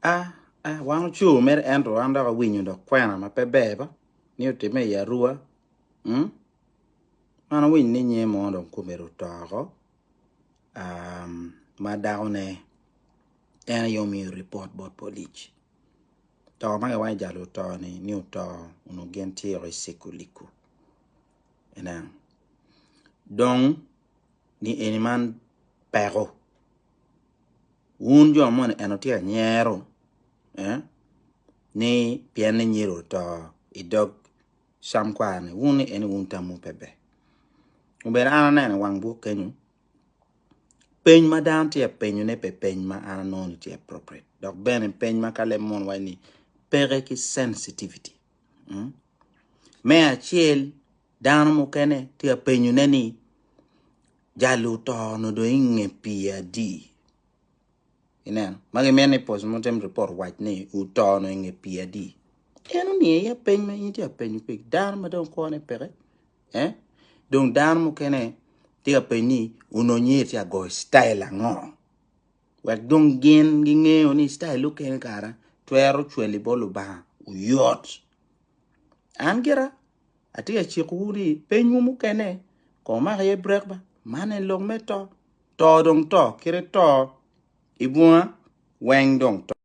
A, a, wan ocur mere ento wan dok awinyo dok kwena ma pe ber ba ni otimme i Arua. Mm? Man awinyo ni nyer mo dong kome ru toko. Um, ma dako ne en aye omiyo report bot police. To ma giwacho jalo oto ni ni oto unu gin tye i siko liku. Ena. Dong ni eni man peko. Wun jo moni eno tye anyero eh ni pien ni nyero oto idog cam kwar ni wun ni eni wun tamwu pe ber. Obedo an aneno i wang buk kenyo peny ma dano tye ka penyo ne pe peny ma an anongo ni tye appropriate dok bene peny ma ka leb mono waco ni peke ki sensitivity. Mm. Me acel dano mukene tye ka penyo ne ni jalo oto-nu dong i nge pii adi? Ineno, ma gimito ni post mortem report owac ni oto-nu i nge pii adi? En omiyo iya peny ma in itye ka penyo kwede dano ma dong kwone peke. Eh? Dong dano mukene tye ka penyo ni ononyo iye itye ka goyo style ango? Wek dong gin gingeyo ni style mukene kara twero cweli bot Lubanga oyot. An gira Atye ka cikowu ni penywu mukene kong wumak iye brek ba, man en lok me to. To dong to, kit i to i bunga weng dong to.